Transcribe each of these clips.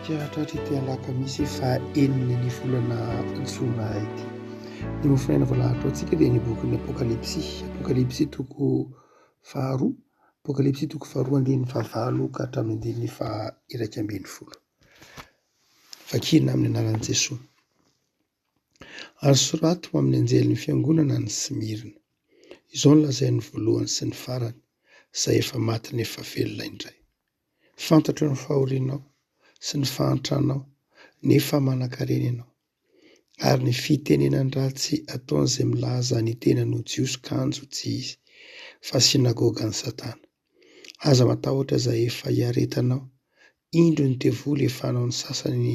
Hatratratratra ity alakamisy faha enina ny volana jona ity. Ny mahafinarina voalahatra ao antsika dia ny bokin'ny apokalypsy, apokalypsy toko faharoa, apokalypsy toko faharoa andininy fahavalo ka hatramin'ny andininy faha iraika ambin'ny folo. Vakina amin'ny anaran'i Jesoa. Ary soraty ho amin'ny anjelin'ny fiangonana any Smirna, Izao no lazain'ny voalohany sy ny farany, izay efa maty nefa velona indray. Fantatro ny fahorianao sy ny fahantranao, nefa manankarena ianao. Ary ny fitenenan-dratsy ataon'izay milaza ny tenany ho Jiosy kanjo tsy izy, fa synagogan'i Satana. Aza matahotra izay efa iaretanao, indro ny devoly efa hanao ny sasany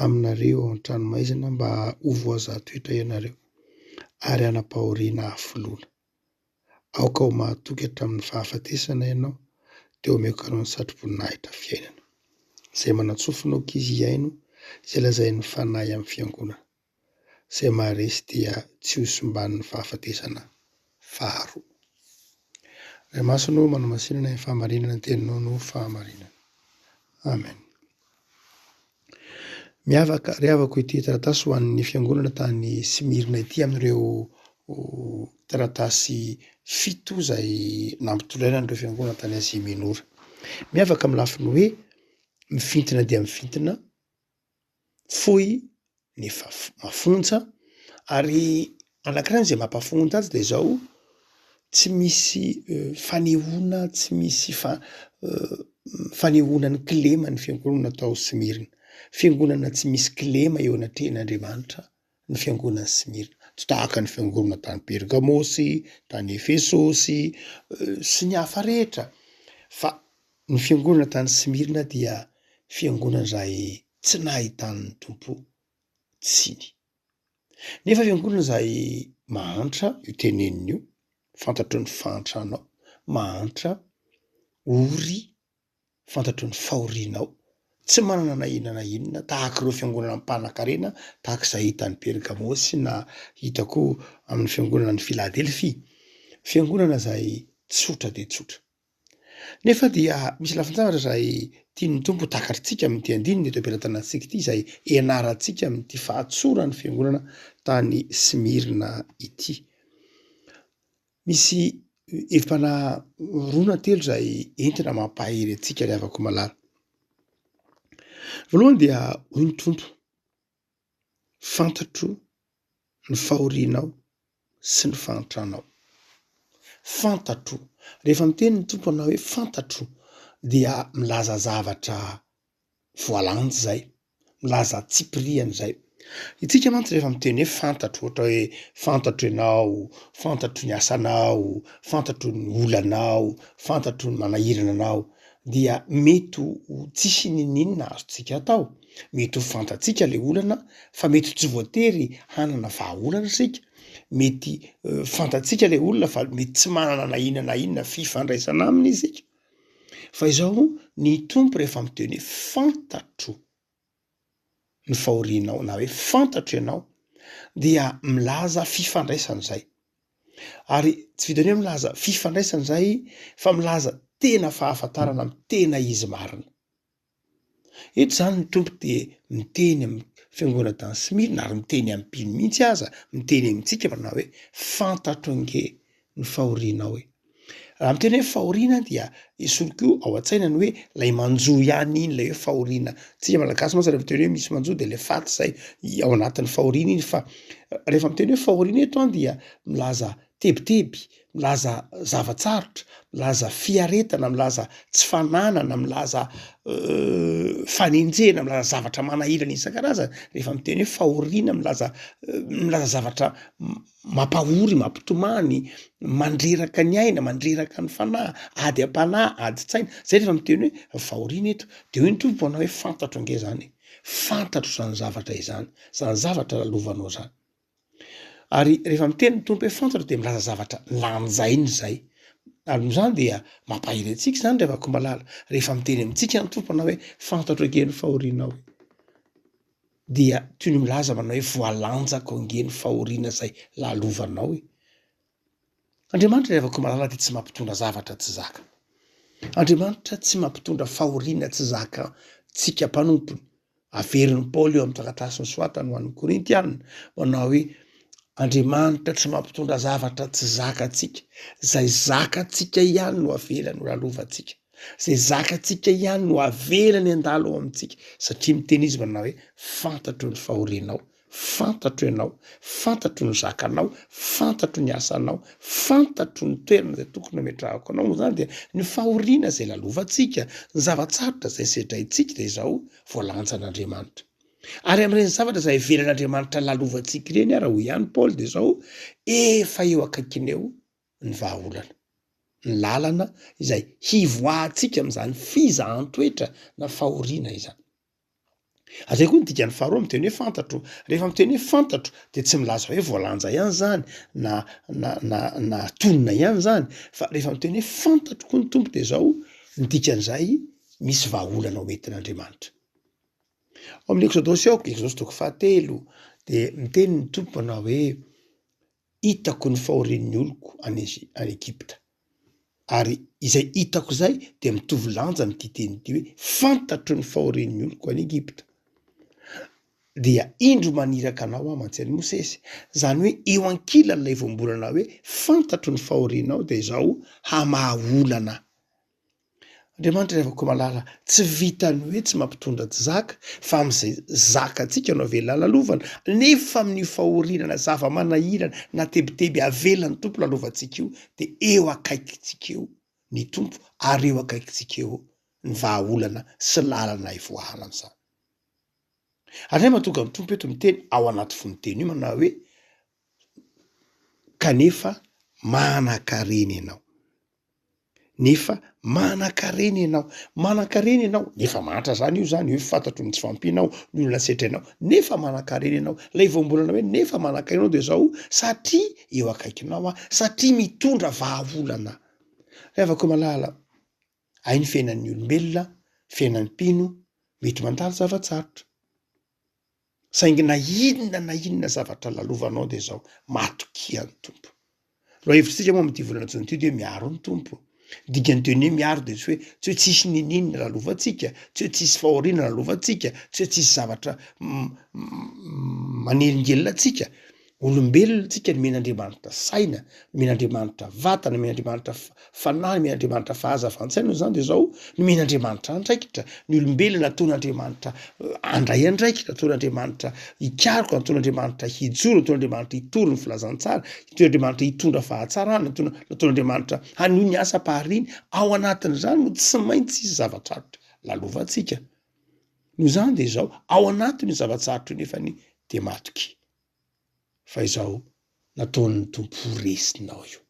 aminareo ao an-tranomaizina mba ho voazaha-toetra ianareo, ary hanam-pahoriana hafoloana. Aoka ho mahatoky hatramin'ny fahafatesana ianao, dia omeko anao ny satroboninahitra fiainana, izay manatsofina ankizy hihaino izay lazain'ny Fanahy amin'ny Fiangonana. Izay maharesy dia tsy ho simban'ny fahafatesana faharoa. Ray Masina ô, manamasinana ny fahamarinana ny Teninao noho fahamarinana. Amen. Miavaka ary havako ity taratasy ho an'ny fiangonana tany Smyrna ity amin'ireo taratasy fito izay nampitolaina an'ireo fiangonana tany Azia Minora. Miavaka amin'ny lafiny hoe mifintina dia mifintina, fohy nefa mafonja ary anankiray izay mampafonja azy dia izao tsy misy fanehoana tsy misy fa- fanehoana ny kilema ny fiangonana tao Smirina. Fiangonana tsy misy kilema eo anatrehan'Andriamanitra ny fiangonan'i Smirina. Tsy tahaka ny fiangonana tany Pergamosy, tany Efesosy sy ny hafa rehetra fa Ny fiangonana tany Smyrna dia fiangonana izay tsy nahitany ny Tompo tsiny. Nefa fiangonana izay mahantra io teneniny io, fantatro ny fahantranao, mahantra, ory, fantatro ny fahorianao, tsy manana na inona na inona, tahaka ireo fiangonana mpanankarena tahaka izay hita any Pergamo sy na hita koa amin'ny fiangonana any Filadelfia, fiangonana izay tsotra dia tsotra. Nefa dia misy lafin-javatra izay tian'ny Tompo ho takarintsika amin'ity andininy eto am-pelatanantsika ity, izay ianarantsika amin'ity fahatsoran'ny Fiangonana tany Smyrna ity. Misy hevi-panahy roa na telo izay entina mampahery antsika ry havako malala. Voalohany dia hoy ny Tompo, Fantatro ny fahorianao sy ny fahantranao. Fantatro. Rehefa miteny ny Tompo anao hoe fantatro dia milaza zavatra voalanjy zay, milaza antsipiriany zay. Itsika mantsy rehefa miteny hoe fantatro ohatra hoe fantatro ianao, fantatro ny asanao, fantatro ny olanao, fantatro ny manahirana anao dia mety ho tsisy n'inon'inona azontsika atao. Mety ho fantatsika le olana fa mety tsy voatery hanana vahaolana isika, mety fantatsika le olona fa mety tsy manana na inona na inona fifandraisana aminy isika, fa izao ny Tompo rehefa miteny hoe fantatro ny fahorianao na hoe fantatro ianao dia milaza fifandraisana izay, ary tsy vitan'ny hoe milaza fifandraisana izay fa milaza tena fahafantarana amin'ny tena izy marina. Eto izany ny Tompo dia miteny amin'ny Fiangonana tany Smyrna ary miteny am-pino mihitsy aza, miteny amintsika manao hoe, Fantatro ange ny fahorianao e! Raha miteny hoe fahoriana dia esory koa ao an-tsaina ny hoe ilay manjo ihany iny, ilay hoe fahoriana. Isika Malagasy mantsy raha miteny hoe misy manjo dia ilay faty izay ao anatin'ny fahoriana iny fa rehefa miteny hoe fahoriana eto dia milaza tebiteby, milaza zava-tsarotra, milaza fiaretana, milaza tsy fananana, milaza fanenjehana, milaza zavatra manahirana isan-karazany, rehefa miteny hoe fahoriana, milaza milaza zavatra mampahory, mampitomany, mandreraka ny aina, mandreraka ny fanahy, ady am-panahy, adin-tsaina, zay rehefa miteny hoe fahoriana eto, de hoy ny Tompo anao hoe fantatro ange zany e, fantatro zany zavatra izany, zany zavatra lalovanao zany. Ary rehefa miteny ny Tompo hoe fantatro dia milaza zavatra lanjainy izay. Ary noho izany dia mampahery antsika izany ry havako malala rehefa miteny amintsika ny Tompo manao hoe fantatro ange ny fahorianao e! dia toy ny milaza manao hoe voalanjako ange ny fahoriana izay lalovanao e! Andriamanitra ry havako malala dia tsy mampitondra zavatra tsy zaka. Andriamanitra tsy mampitondra fahoriana tsy zaka tsika mpanompony. Averin'i Paoly eo amin'ny taratasy nosoratany ho an'ny Korintiana manao hoe Andriamanitra tsy mampitondra zavatra tsy zaka tsika. Zay zaka tsika ihany no avelany ho lalovantsika. Zay zaka tsika ihany no avelany handalo ao amintsika satria miteny izy manao hoe fantatro ny fahorianao Fantatro ianao, fantatro ny zakanao, fantatro ny asanao, fantatro ny toerana izay tokony hametrahako anao, noho izany dia ny fahoriana izay lalovantsika, ny zava-tsarotra izay sedraintsika dia izao voalanjan'Andriamanitra. Ary amin'ireny zavatra izay ivelan'Andriamanitra lalovantsika ireny ary, hoy ihany Paoly, dia izao efa eo akaikiny eo ny vahaolana, ny lalana izay hivoahantsika amin'izany fizahan-toetra na fahoriana izany. Ary zay koa ny dikany faharoa miteny hoe fantatro, rehefa miteny hoe fantatro de tsy milaza hoe voalanja ihany zany na na na na tonina ihany zany fa rehefa miteny hoe fantatro koa ny Tompo de zao ny dikan'izay misy vahaolana ho entin'Andriamanitra. Ao amin'ny Exodosy ao, Exodosy toko fahatelo de miteny ny Tompo manao hoe hitako ny fahorian'ny oloko any Egypta. Ary izay hitako izay dia mitovy lanja amin'ity teny ity hoe, fantatro ny fahorian'ny oloko any Egypta. Dia indro maniraka anao aho mantsy an'i Mosesy. Izany hoe eo ankilan'ilay voambolana hoe fantatro ny fahorianao dia izao hamaha olana. Andriamanitra ry havako malala tsy vitan'ny hoe tsy mampitondra tsy zaka fa amin'izay zakantsika no avela halalovana nefa amin'ny fahorianana zava-manahirana na tebiteby avelan'ny Tompo lalovantsika io dia eo akaikintsika eo ny Tompo ary eo akaikintsika eo ny vahaolana sy lalana hivoahana amin'izany. Andriamanitra tonga ny Tompo eto miteny ao anaty fonoteny io manao hoe kanefa manankarena ianao. nefa manankarena ianao, manankarena ianao nefa mahantra zany io zany hoe fantatro ny tsy fahampianao, ny olona setrinao nefa manankarena ianao, lay voambolana hoe nefa manankarena ianao de zao satria eo akaikinao aho, satria mitondra vahaolana aho. Ry havako malala, hay ny fiainan'ny olombelona, fiainan'ny mpino mety mandalo zava-tsarotra. Saingy na inona na inona zavatra lalovanao dia izao, matokia ny Tompo. Lohahevitritsika moa amin'ity volana jona ity dia hoe miaro ny Tompo. Dikan'ny teny hoe miaro dia tsy hoe tsy hoe tsisy niniana lalovantsika, tsy hoe tsisy fahoriana lalovantsika, tsy hoe tsisy zavatra manelingelina antsika, Olombelona tsika nomena Andriamanitra saina, nomena Andriamanitra vatana, nomena Andriamanitra fanahy, nomena Andriamanitra fahazavan-tsaina noho izany dia izao, nomena Andriamanitra andraikitra, ny olombelona nataon'Andriamanitra handray andraikitra, nataon'Andriamanitra hikaroka, nataon'Andriamanitra hijoro, nataon'Andriamanitra hitory ny filazantsara, nataon'Andriamanitra hitondra fahatsarana, nataon'Andriamanitra hanohy ny asam-pahariany, ao anatin'izany no tsy maintsy hisy zava-tsarotra lalovantsika, noho izany dia izao, ao anatin'io zava-tsarotra io nefany dia matokia. fa izao nataon'ny Tompo ho resinao io,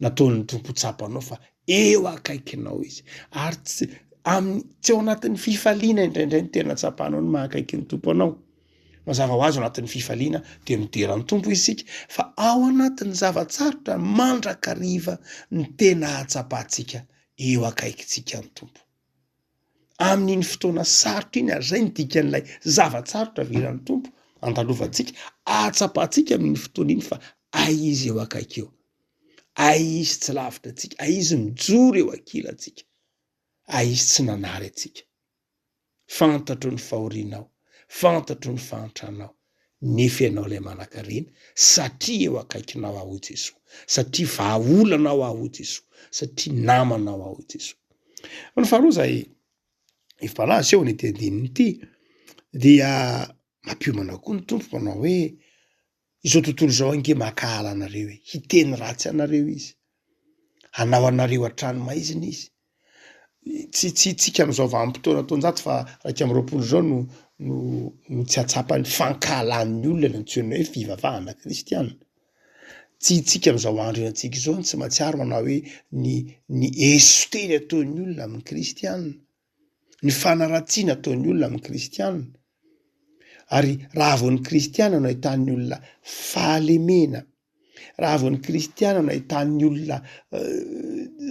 nataon'ny Tompo ho tsapanao fa eo akaikinao Izy, ary tsy amin'ny tsy ao anatin'ny fifaliana indraindray no tena tsapanao ny maha akaiky ny Tompo anao. Mazava ho azy ao anatin'ny fifaliana dia midera ny Tompo isika, fa ao anatin'ny zava-tsarotra mandrakariva no tena ahatsapantsika eo akaikintsika ny Tompo. amin'iny fotoana sarotra iny ary zay ny dikan'ilay zava-tsarotra avelany tompo andalovantsika ahatsapantsika amin'ny fotoana iny fa ay izy eo akaiky eo ay izy tsy lavitra atsika ay izy mijoro eo akila atsika ay izy tsy nanary atsika fantatro ny fahorianao fantatro ny fahantranao Nefy ianao ilay manankarena, satria eo akaikinao aho, hoy Jesoa. Satria vahaolanao aho, hoy Jesoa. Satria namanao aho, hoy Jesoa. Fa ny faharoa izay efa malaza eo amin'ity andininy ity, dia mampiomana koa ny Tompo manao hoe, izao tontolo izao ange mankahala anareo e, hiteny ratsy anareo izy. hanao anareo hatrany maizina izy. Tsy tsy hitsika amin'izao vanim-potoana taonjato fa iraika amby roapolo izao no no no tsy hahatsapa ny fankahalan'ny olona ny antsoina hoe fivavahana kristiana. Tsy hitsika amin'izao andro iainantsika izao ny tsy mahatsiaro anao hoe ny ny eso teny ataon'ny olona amin'ny kristiana. ny fanaratsiana ataon'ny olona amin'ny kristiana, ary raha vao ny kristiana no ahitan'ny olona fahalemena, raha vao ny kristiana no ahitan'ny olona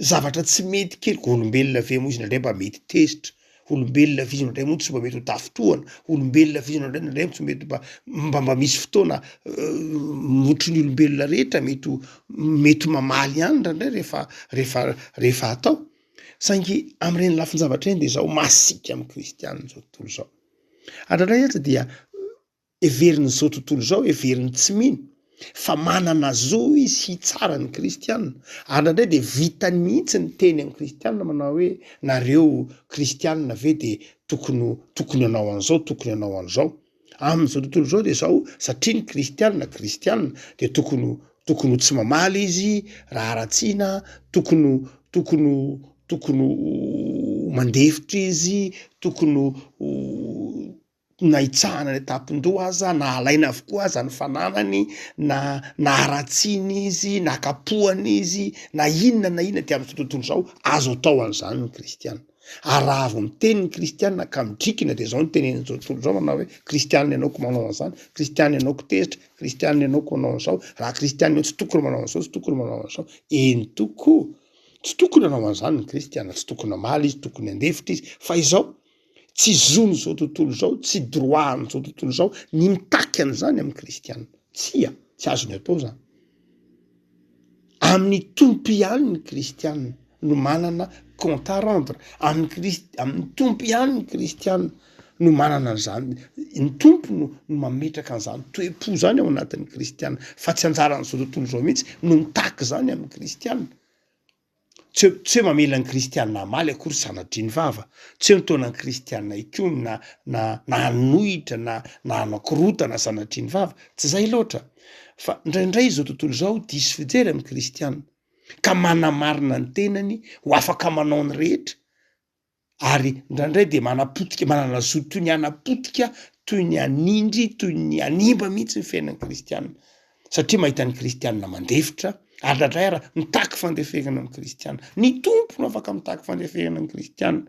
zavatra tsy mety kely, olombelona ve moa izy indraindray mba mety tezitra, olombelona ve izy indraindray moa tsy mba mety ho tafintohana, olombelona ve izy indraindray indraindray tsy mety mba mba mba misy fotoana mihoatry ny olombelona rehetra mety ho mety ho mamaly ihany indraindray rehefa rehefa rehefa atao. Saingy amin'ireny lafin-javatra ireny dia izaho masiaka amin'ny kristiana amin'izao tontolo izao. Hatraindray aza dia heverin'izao tontolo izao, heverin'ny tsy mino fa manana zo izy hitsara ny kristiana. Ary indraindray dia vitany mihitsy ny teny amin'ny kristiana manao hoe nareo kristiana ve dia tokony tokony hanao an'izao, tokony hanao an'izao. Amin'izao tontolo izao dia izao, satria ny kristiana kristiana dia tokony ho tokony ho tsy mamaly izy raha haratsiana, tokony ho tokony ho tokony ho mandefitra izy, tokony ho na hitsahana any an-tampon-doha aza na halaina avokoa aza ny fananany na na haratsiana izy na kapohana izy na inona na inona dia amin'izao tontolo izao azo atao an'izany ny kristiana. Ary raha avy miteny ny kristiana ka midrikina dia zao ny tenen'izao tontolo zao manao hoe kristiana ianao ko manao an'zany, kristiana ianao ko tezitra, kristiana ianao ko manao an'zao, raha kristiana ianao tsy tokony manao an'zao tsy tokony manao an'zao, eny tokoa tsy tokony hanao an'zany ny kristiana, tsy tokony hamaly izy, tokony handefitra izy, fa izao tsy zon'izao tontolo zao, tsy droit an'zao tontolo zao ny mitaky an'zany amin'ny kristiana, tsia, tsy azony atao zany. Amin'ny Tompo ihany ny kristiana no manana compte à rendre, amin'ny Kristy amin'ny Tompo ihany ny kristiana no manana an'izany, ny Tompo no no mametraka an'izany toe-po zany ao anatin'ny kristiana fa tsy anjaran'izao tontolo izao mihitsy no mitaky izany amin'ny kristiana. Tsy hoe tsy hoe mamela ny kristiana hamaly akory sanatria ny vava, tsy hoe mitaona ny kristiana hikomy na na na hanohitra na na hanao korontana sanatria ny vava, tsy izay loatra fa indraindray izao tontolo izao diso fijery amin'ny kristiana ka manamarina ny tenany ho afaka manao ny rehetra ary indraindray dia manapotika, manana zo toy ny hanapotika, toy ny hanindry, toy ny hanimba mihitsy ny fiainan'ny kristiana, satria mahita ny kristiana mandefitra, ary indraindray ary mitaky fandeferana ny kristiana. Ny Tompo no afaka mitaky fandeferana ny kristiana,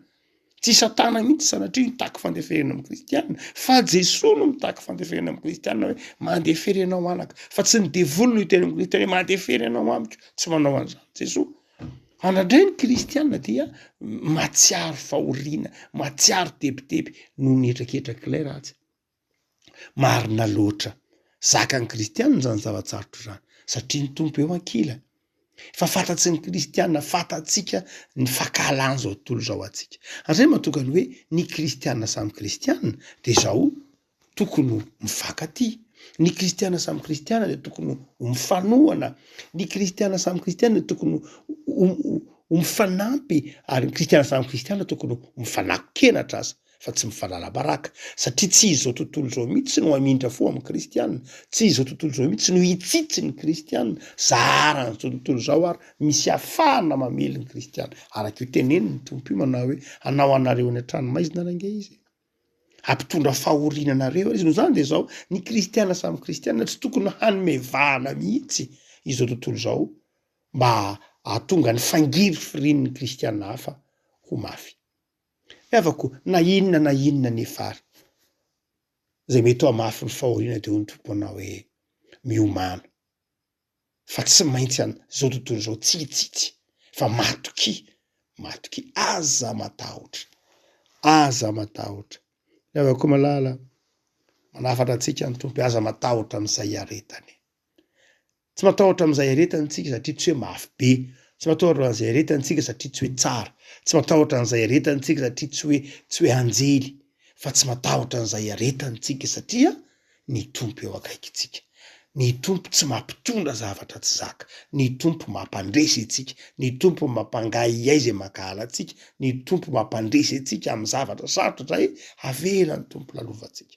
tsy Satana mihitsy sanatria mitaky fandeferana amin'ny kristiana, fa Jesoa no mitaky fandeferana amin'ny kristiana hoe mandefera ianao anaka, fa tsy ny devoly no hiteny amin'ny kristiana hoe mandefera ianao amiko, tsy manao an'izany Jesoa. Andrandray ny kristiana dia matsiaro fahoriana, matsiaro tebiteby noho ny hetraketrak'ilay ratsy. Marina loatra, zakan'ny kristiana zany zava-tsarotra zany satria ny Tompo eo ankilany. Efa fantatry ny kristiana, fantatsika ny fankahalany zao tontolo zao antsika. Ary zay no mahatonga ny hoe ny kristiana samy kristiana de zao tokony ho mifankatia, ny kristiana samy kristiana dia tokony ho mifanohana, ny kristiana samy kristiana dia tokony ho mifanampy ary ny kristiana samy kristiana tokony ho mifanakin-kenatra aza fa tsy mifanala-baraka satria tsy izao tontolo izao mihitsy no hamindra fo amin'ny kristiana, tsy izao tontolo izao mihitsy no hitsitsy ny kristiana, zaharan'izao tontolo izao ary misy afahana mamely ny kristiana, araka io tenenin'ny Tompo io manao hoe hanao anareo any an-tranomaizina ary ange Izy e! Hampitondra fahoriana anareo ary izy. Noho izany dia izao, ny kristiana samy kristiana tsy tokony hanome vahana mihitsy izao tontolo izao mba hahatonga ny fangirifirin'ny kristiana hafa ho mafy. Ry havako, na inona na inona anefa ary izay mety ho hamafy ny fahoriana dia hoy ny Tompo anao hoe, Miomàna. fa tsy maintsy an zao tontolo zao tsia tsia tsia fa matokia matokia aza matahotra aza matahotra ny avy akoa malala manafatra antsika ny tompo aza matahotra amizay iaretany tsy matahotra amizay iaretany tsika satria tsy hoe mafy be tsy matahotra amizay iaretany tsika satria tsy hoe tsara tsy matahotra anizay iaretany tsika satria tsy hoe tsy hoe anjely fa tsy matahotra an'izay iaretantsika satria ny Tompo eo akaikintsika. Ny Tompo tsy mampitondra zavatra tsy zaka. Ny Tompo mampandresy antsika. Ny Tompo mampangahiahy izay mankahala antsika. Ny Tompo mampandresy antsika amin'ny zavatra sarotra izay avela ny Tompo lalovantsika.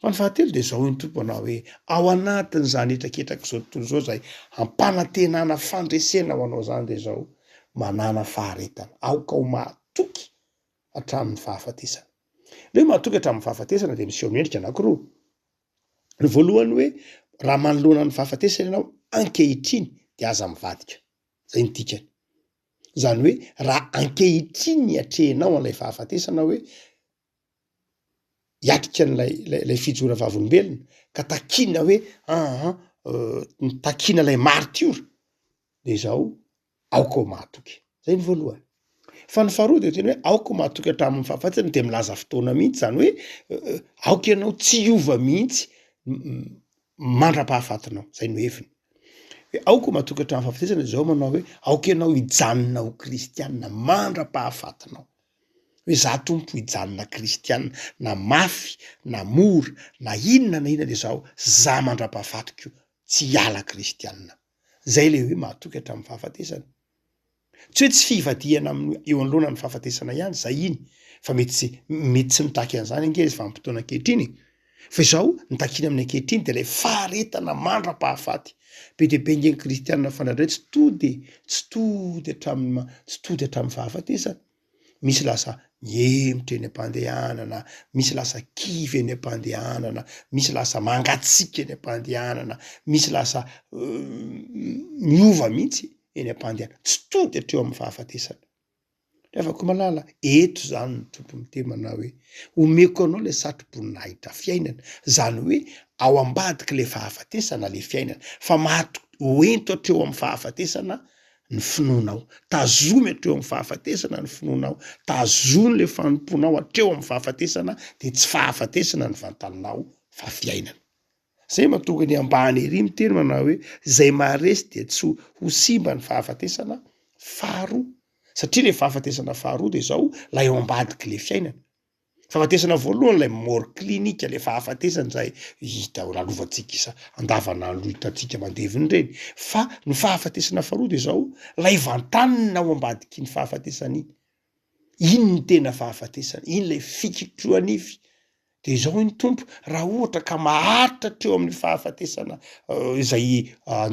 Fa ny fahatelo dia izao hoy ny Tompo anao hoe, ao anatin'izany hetraketrak'izao tontolo izao izay hampanantenana fandresena ho anao izany dia izao, manàna faharetana, aoka ho mahatoky hatramin'ny fahafatesana. Ny hoe mahatoky hatramin'ny fahafatesana dia miseho amin'ny endrika anankiroa, ny voalohany hoe raha manoloana ny fahafatesana ianao ankehitriny dia aza mivadika, izay no dikany, izany hoe raha ankehitriny ny atrehinao an'ilay fahafatesana hoe hiatrika an'ilay ilay ilay fijoroana vavolombelona ka takiana hoe aa takiana ilay maritiora de izaho aoka ho mahatoky, zay ny voalohany, fa ny faharoa de tena hoe aoka ho mahatoky hatramin'ny fahafatiny de milaza fotoana mihitsy zany hoe aoka ianao tsy hiova mihitsy mandra-pahafatinao, zay no heviny hoe aoka ho mahatoky hatramin'ny fahafatesana de zao manao hoe aoka ianao hijanona ho kristianina mandra-pahafatinao. Izaho Tompo hijanona kristiana na mafy na mora na inona na inona izaho za mandrapahafatiko tsy hiala kristiana. Zay le hoe mahatoky hatramin'ny fahafatesana. Tsy hoe tsy fivadihana amin'ny eo anoloana ny fahafatesana ihany zay iny fa mety tsy mety tsy mitaky an'izany ange izy vanim-potoana ankehitriny e! Fa izao ny takiana amin'ny ankehitriny dia ilay faharetana mandra-pahafaty. Be dia be ange ny kristiana fanahy indray tsy tody tsy tody hatramin'ny ma tsy tody hatramin'ny fahafatesana. Misy lasa mihemotra eny am-pandehanana, misy lasa kivy eny am-pandehanana, misy lasa mangatsiaka eny am-pandehanana, misy lasa miova mihitsy eny am-pandehanana, tsy tody hatreo amin'ny fahafatesana. Ravakomalala, eto zany ny Tompo miteny manao hoe, omeko anao le satroboninahitra fiainana, zany hoe ao ambadiky le fahafatesana le fiainana, fa maty ho ento hatreo amin'ny fahafatesana ny finoanao, tazomy hatreo amin'ny fahafatesana ny finoanao, tazomy le fanompoanao hatreo amin'ny fahafatesana de tsy fahafatesana ny vantanao fa fiainana. Izay mahatonga ny ambany ery miteny manao hoe izay maharesy dia tsy ho simba ny fahafatesana faharoa satria ilay fahafatesana faharoa dia izao ilay ao ambadik'ilay le fiainana. Fahafatesana voalohany ilay mort clinique ilay fahafatesana izay hita ho lalovantsika isa andavanandro hitantsika mandevina ireny fa ny fahafatesana faharoa dia izao ilay vantanina ao ambadiky ny fahafatesana iny. Iny ny tena fahafatesana, iny ilay fikitrohanify. De izao hoy ny Tompo, raha ohatra ka maharitra hatreo amin'ny fahafatesana izay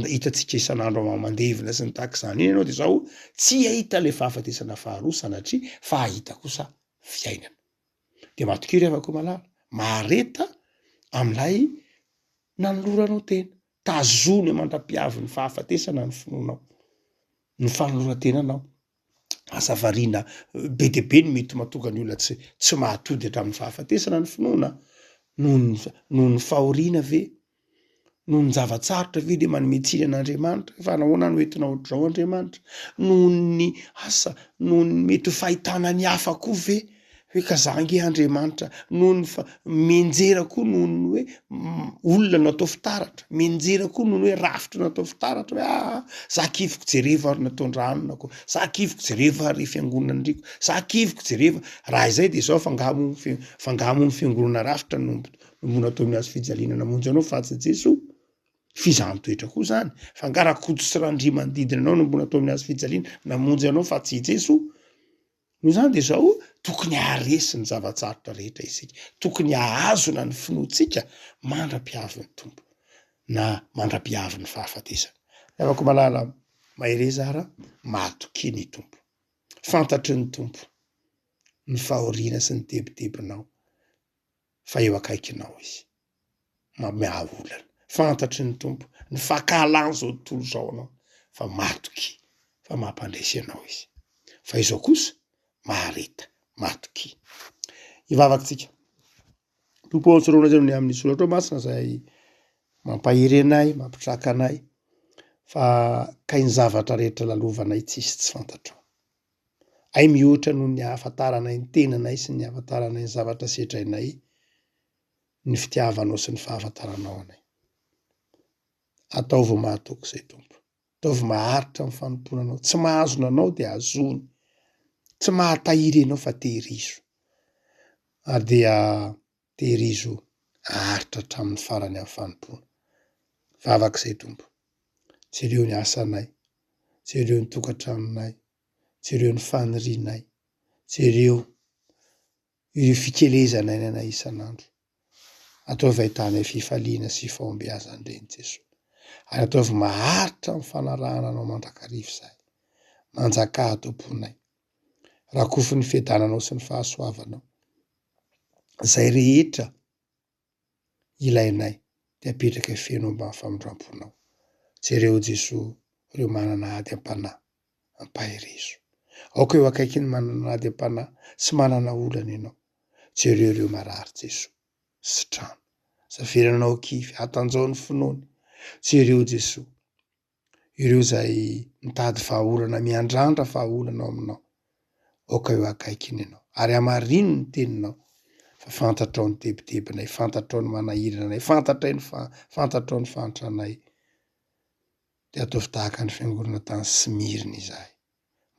hitantsika isan'andro amam-mandevona sy ny tahak'izany iny ianao de zao, tsy hahita ilay fahafatesana faharoa sanatria fa hahita kosa fiainana. De matokia ry havako malala, mahareta amin'ilay nanoloranao tena, tazomy aman-dra-piavin'ny fahafatesana ny finoanao, ny fanoloran-tenanao. asa variana be dia be no mety mahatonga ny olona tsy tsy mahatody hatramin'ny fahafatesana ny finoana noho ny noho ny fahoriana ve? noho ny zava-tsarotra ve dia manome tsiny an'Andriamanitra fa nahoana no entina ohatr'izao Andriamanitra? noho ny asa noho ny mety ho fahitana ny hafa koa ve? hoe ka za ange Andriamanitra noho ny fa mianjera koa noho ny hoe olona no atao fitaratra, mianjera koa noho ny hoe rafitra no atao fitaratra hoe aa za kiviko jereva ary ny tondranonako, za kiviko jereva ary fiangonandriako, za kiviko jereva raha izay de zao fa nga moa fe- fa nga moa ny fiangonana rafitra no no natao ny hazofijaliana namonjy anao fa atsy Jesoa? fizaham-toetra koa zany, fa nga rakoto sy randria manodidina anao no mbola atao ny hazofijaliana namonjy anao fa tsy i Jesoa? Noho izany dia izao, tokony haharesy ny zava-tsarotra rehetra isika, tokony hahazona ny finoantsika mandra-pihavin'ny Tompo, na mandra-pihavin'ny fahafatesana. Ry havako malala, mahereza ara, mahatokia ny Tompo. Fantatry ny Tompo ny fahoriana sy ny tebitebinao, fa eo akaikinao Izy. mameaha olana. Fantatry ny Tompo ny fankahalany zao tontolo izao anao fa matokia fa mampandresy anao izy fa izao kosa mahareta matokia. Hivavaka tsika. Tompo ô tsoraola zay ny amin'ny soratrao masina zay mampahery anay mampitraka anay fa kay ny zavatra rehetra lalovanay tsisy tsy fantatrao. Hay mihoatra noho ny ahafantaranay ny tenanay sy ny ahafantaranay ny zavatra sedrainay. ny fitiavanao sy ny fahafantaranao anay. Ataovy mahatoky izay Tompo. Ataovy maharitra ny fanompoana anao. Tsy mahazona anao dia azony. Tsy mahatahiry anao fa tehirizo. Ary dia tehirizo aharitra hatramin'ny farany amin'ny fanompoana. Vavaka izay Tompo. Jereo ny asanay. Jereo ny tokantranonay. Jereo ny fanirianay. Jereo. Io fikelezana eny anay isan'andro. Ataovy ahitanay fifaliana sy fahombiazana indreny Jesoa. Ary ataovy maharitra amin'ny fanarahana Anao mandrakariva izahay. Manjakà ato am-ponay. Rakofy ny fiadananao sy ny fahasoavanao izay rehetra ilainay dia apetraka feno ambany famindramponao. Jereo Jesoa ireo manana ady am-panahy, ampaherezo. Aoka eo akaikin'ny manana ady am-panahy sy manana olana ianao. Jereo ireo marary Jesoa. Sitrano. Zavelanao kivy, atanjaho ny finoany. Jereo Jesoa. ireo izay mitady vahaolana miandrandra vahaolana ao aminao, aoka eo akaikiny ianao ary hamarino ny teninao fa fantatrao ny tebitebinay, fantatrao ny manahirana anay, fantatray ny fa- fantatrao ny fahantranay, dia ataovy tahaka ny fiangonana tany Smyrne izahay.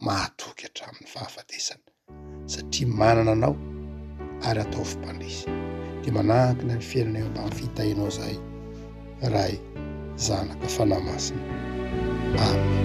mahatoky hatramin'ny fahafatesana satria manana anao ary ataovy mpandresy dia manankina ny fiainana eo ambany fitahianao izahay Ray Zanaka Fanahy Masina Amen